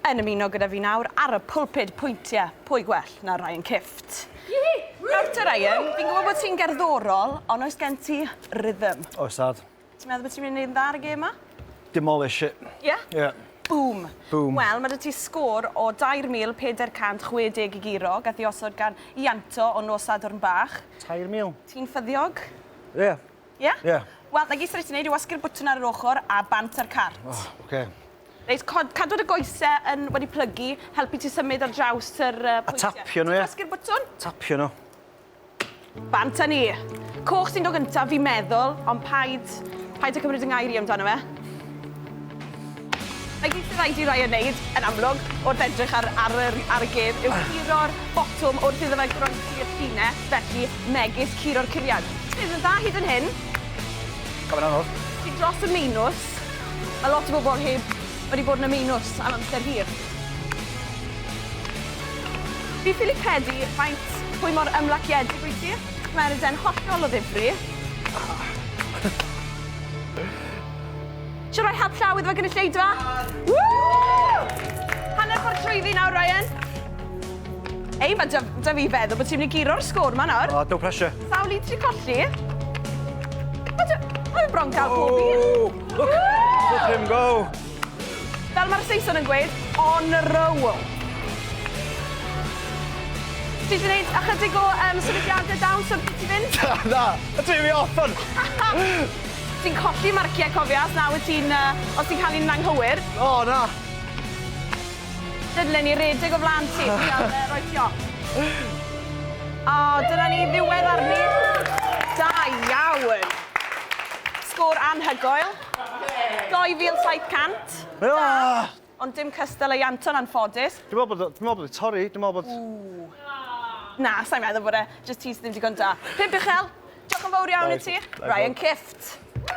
Yn ymuno gyda fi nawr ar y pulpud pwyntie, pwy gwell na Ryan Kifft. Yee! Nawr te Ryan, fi'n gwybod bod ti'n gerddorol, ond oes gen ti rhythm? Oes dad. Ti'n meddwl bod ti'n mynd i wneud yn dda ar y gêm ma? Demolish it. Ie? Ie. Boom. Boom. Wel, mae 'da ti sgôr o 2,460 i guro, gath ei osod gan Ianto o nos Sadwrn Bach. 3,000. Ti'n ffyddiog? Ie. Ie? Ie. Wel, 'na gyd sy' 'da ti wneud yw wasgu'r bwtwn ar yr ochr a bant â'r cart. O, ocê. Reit, cod, cadw dy goese yn wedi plygu, helpu ti symud ar draws yr uh, pwyntiau. A tapio nhw, ie? Tasgu'r bwtwn? Tapio nhw. Bant â ni. Coch sy'n dod gyntaf, fi'n meddwl, ond paid, paid y cymryd yng ngair i amdano fe. Mae gyd sy'n rhaid i Ryan wneud, yn amlwg, wrth edrych ar, ar, ar, ar y gêm, yw curo'r botwm wrth iddo fe groesi i'r llinell, felly megis curo'r curiad. Bydd yn dda hyd yn hyn. Gofyn anodd. Ti dros y meinws. Mae lot o bobl heb wedi bod yn y meinws am amser hir. Fi'n ffili credu faint pwy mor ymlaciedig wyt ti. Mae'r ede'n hollol o ddifri. Siwr roi help llaw iddo fe gynulleidfa? Woo! Hanner ffordd trwyddi nawr, Ryan. Ei, mae da, da fi feddwl bod ti'n mynd i giro'r sgôr ma nawr. Oh, no pressure. Sawl un ti colli? Mae da... Mae bron gael pob un. Look, look him go. Fel mae'r Saeson yn gweud, on a roll. Ti wedi gwneud ychydig o um, sefydliadau dawn sy'n ti fynd? Na, na, a ti'n fi off on. ti'n colli marciau cofio, os na wyt ti'n, uh, os ti'n cael un anghywir. O, oh, na. Lle ni redeg o flan ti, ti am uh, roi siop. O, dyna ni ddiwedd arni. Da iawn. Sgôr anhygoel. 2700. Ah! Ond dim cystal ei Anton anffodus. Dwi'n meddwl bod, dwi'n meddwl bod torri, dwi'n meddwl bod... Ooh. Na, sa'n meddwl bod e, just ti sydd ddim digon da. Pimp uchel, diolch yn fawr iawn i ti. Ryan Kift.